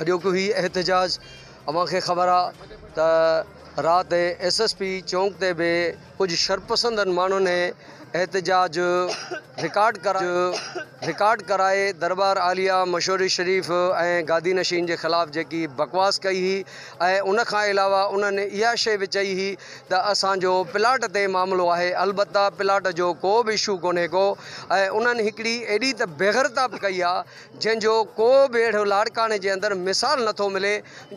اڄوڪو هي احتجاج اوهان کي خبر آ ته رات ايس ايس پي چونڪ تي به ڪجهه شرپسندن ماڻهن احتجاج رڪارڊ ڪرائي درٻار عاليه مشوري شريف ۽ گادي نشين جي خلاف جيڪي بڪواس ڪئي هئي ۽ ان کان علاوه انهن اها شئي به چئي هئي ته اسان جو پلاٽ تي معاملو آهي البته پلاٽ جو ڪو به اشو ڪونهي ڪو ۽ انهن هڪڙي ايڏي ته بيغرتاب ڪئي آ جنهن جو ڪو به اهڙو لاڙڪاڻي جي اندر مثال نه ٿو ملي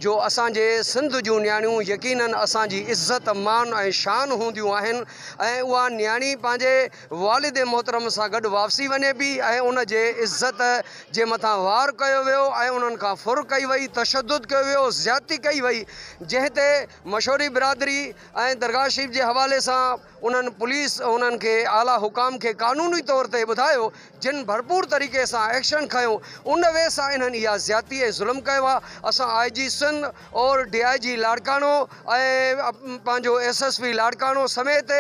جو اسان جي سنڌ جون نياڻيون يقينن اسان جي عزت مان ۽ شان هونديون آهن ۽ اها نياڻي پنهنجي والد محترم سان گڏ واپسي وڃي پي ۽ ان جي عزت جي مٿان وار ڪيو ويو ۽ انهن کان ڦر ڪئي وئي تشدد ڪيو ويو زيادتي ڪئي وئي جنهن تي مشوري برادري ۽ درگاهه شريف جي حوالي سان انهن پوليس انهن کي اعليٰ حڪام کي قانوني طور تي ٻڌايو جن ڀرپور طريقي سان ايڪشن کنيو ان وي سان انهن اها زيادتي ۽ ظلم ڪيو آ اسان آء جي سنڌ اور ڊي آء جي لاڙڪاڻو ۽ پنهنجو ايس ايس پي لاڙڪاڻو سميت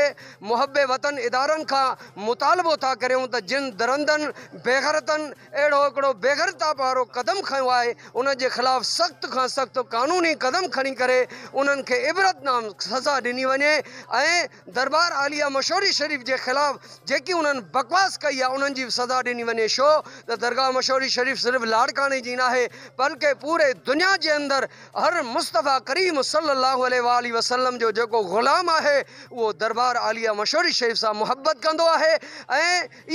محب وطن ادارن کان مطالبو ٿا ڪريون ته جن درندن بيغرتن اهڙو هڪڙو بيغرتاب وارو قدم کنيو آهي انهن جي خلاف سخت کان سخت قانوني قدم کڻي ڪري انهن کي عبرتنام سزا ڏني وڃي ۽ دربار عاليه مشوري شريف جي خلاف جيڪي انهن بڪواس ڪئي آهي انهن جي به سزا ڏني وڃي شو ته درگاهه مشوري شريف صرف لاڙڪاڻي جي ناهي بلڪه پوري دنيا جي اندر هر مصطفيٰ ڪريم صلي الله عليه واٰله وسلم جو جيڪو غلام آهي اهو دربار عاليه مشوري شريف سان محبت ڪندو آهي ۽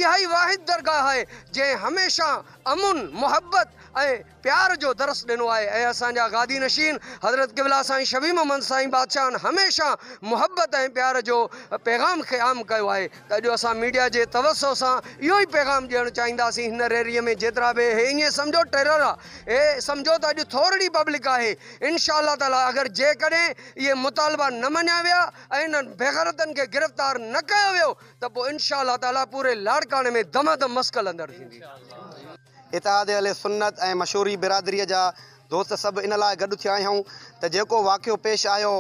اها ئي واحد درگاهه آهي جنهن هميشه امن، محبت ۽ پيار جو درس ڏنو آهي ۽ اسان جا گادي نشين حضرت قبلا سائين شبيهه محمد سائين بادشاهن هميشه محبت ۽ پيار جو پيغام کي عام ڪيو آهي ته اڄ اسان ميڊيا جي توسع سان اهو ئي پيغام ڏيڻ چاهينداسين هن ريلي ۾ جيترا به اهي ائين سمجهو ٽيرر اهي سمجهو ته اڄ ٿورڙي پبلڪ آهي انشاء الله تعالي اگر جيڪڏهن اهي مطالبا نه مڃيا ويا ۽ انهن بيغرتن کي گرفتار نه ڪيو ويو ته پوء انشاء الله تعالي پوري لاڙڪاڻي ۾ دما دم مس کلندڙ ٿيندي. اتحاد اهل سنت ۽ مشوري برادريء جا دوست سڀ ان لاء گڏ ٿيا آهيون ته جيڪو واقعو پيش آيو،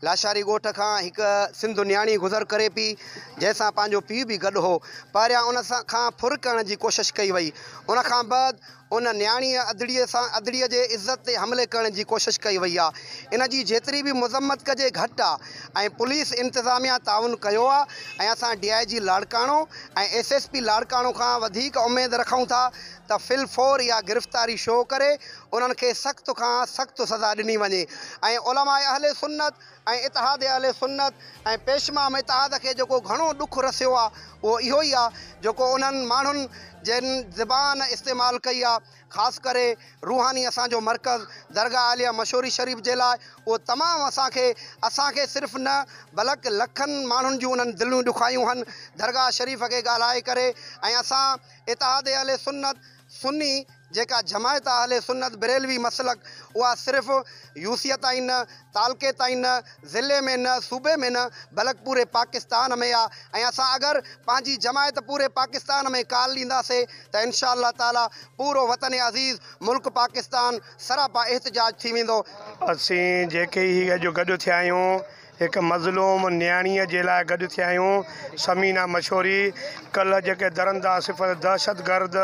لاشاري ڳوٺ کان هڪ سنڌو نياڻي گذر ڪري پيئي، جنهن سان پنهنجو پيء به گڏ هو. پهريان ان کان ڦر ڪرڻ جي ڪوشش ڪئي وئي، ان کان بعد ان نياڻيء ادڙيء سان ادڙيء جي عزت تي حملي ڪرڻ جي ڪوشش ڪئي وئي آهي، ان جي جيتري به مذمت ڪجي گهٽ آهي ۽ پوليس انتظاميا تعاون ڪيو آهي ۽ اسان D I G Larkana ۽ S S P Larkana کان وڌيڪ اميد رکون ٿا ته في الفور اها گرفتاري شو ڪري انهن کي سخت کان سخت سزا ڏني وڃي ۽ علماء اهل سنت ۽ اتحاد اهل سنت ۽ پيش امام اتحاد کي جيڪو گهڻو ڏک رسيو آ اهو اهو ئي آ جيڪو انهن ماڻهن جن زبان استعمال ڪئي آ خاص ڪري روحاني اسان جو مرڪز درگاهه عاليه مشوري شريف جي لاء اهو تمام اسان کي اسان کي صرف نه بلڪ لکن ماڻهن جون انهن دليون ڏکايون هن درگاهه شريف کي ڳالهائي ڪري ۽ اسان اتحاد اهل سنت سني جيڪا جماعت اهل سنت بريلوي مسلڪ اها صرف يوسيه تائين نه، تعلقي تائين نه، ضلعي ۾ نه، صوبي ۾ نه بلڪ پوري پاڪستان ۾ آ ۽ اسان اگر پنهنجي جماعت پوري پاڪستان ۾ ڪال ڏينداسي ته انشاء الله تعالي پورو وطن عزيز ملڪ پاڪستان سراپا احتجاج ٿي ويندو. اسين جيڪي هي اڄ گڏ ٿيا آهيون هڪ مظلوم نياڻيء جي لاء گڏ ٿيا آهيون. ثمينه مشوري، ڪلهه جيڪي درنده صفت دهشتگرد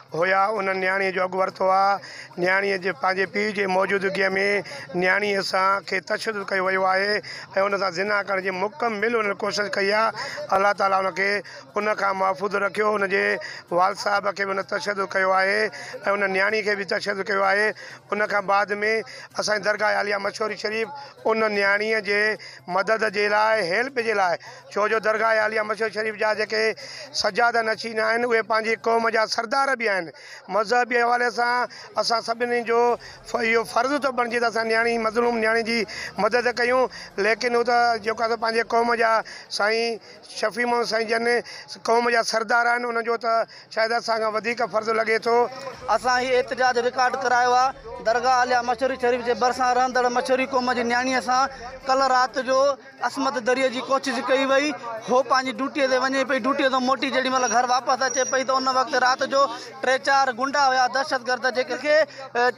هيا، انهن نياڻيء جو اڳ ورتو آهي. نياڻيء جي پنهنجي پيء جي موجودگيء ۾ نياڻيء سان کي تشدد ڪيو ويو آهي ۽ ان سان زنا ڪرڻ جي مڪمل انهن ڪوشش ڪئي آهي. الله تعاليٰ ان کي ان کان محفوظ رکيو. ان جي والد صاحب کي به ان تشدد ڪيو آهي ۽ ان نياڻيء کي به تشدد ڪيو آهي. ان کان بعد ۾ اسان جي درگاهه عاليه مشوري شريف ان نياڻيء جي مدد جي لاء، Help، جي لاء، ڇو جو درگاهه عاليه مسجد شريف جا جيڪي سجاده نشين آهن، اهي پنهنجي قوم جا سردار به آهن. مذهبي حوالي سان اسان سڀني جو اهو فرض ٿو بڻجي ته اسان نياڻي، مظلوم نياڻي جي مدد ڪيون، ليڪن هو ته جيڪو آهي سو پنهنجي قوم جا سائين شفيع محمد سائين جن قوم جا سردار آهن، انهن جو ته. شايد اسان کان وڌيڪ فرض لڳي ٿو. اسان هي احتجاج رڪارڊ ڪرايو آ. درگاهه اعليٰ مشوري شريف جي ڀرسان رهندڙ مشوري قوم جي نياڻيء سان ڪلهه رات جو عصمت دريء جي ڪوشش ڪئي وئي. هوء پنهنجي ڊيوٽيء تي وڃي پئي. ڊيوٽيء تان موٽي جيڏي مهل گهر واپس اچي پئي ته ان وقت رات جو ٽي چار غنڊا هيا دهشتگرد جيڪي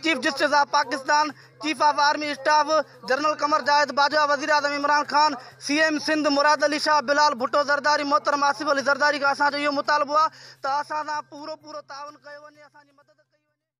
chief justice of Pakistan, chief of army staff general Qamar Zahid Bajwa, وزيراعظم عمران خان، سي ايم سنڌ مراد علي شاهه، بلال ڀٽو زرداري، محترم آصف علي زرداري کان اسان جو اهو مطالبو آهي ته اسان سان پورو پورو تعاون ڪيو وڃي، اسان جي مدد ڪئي وڃي.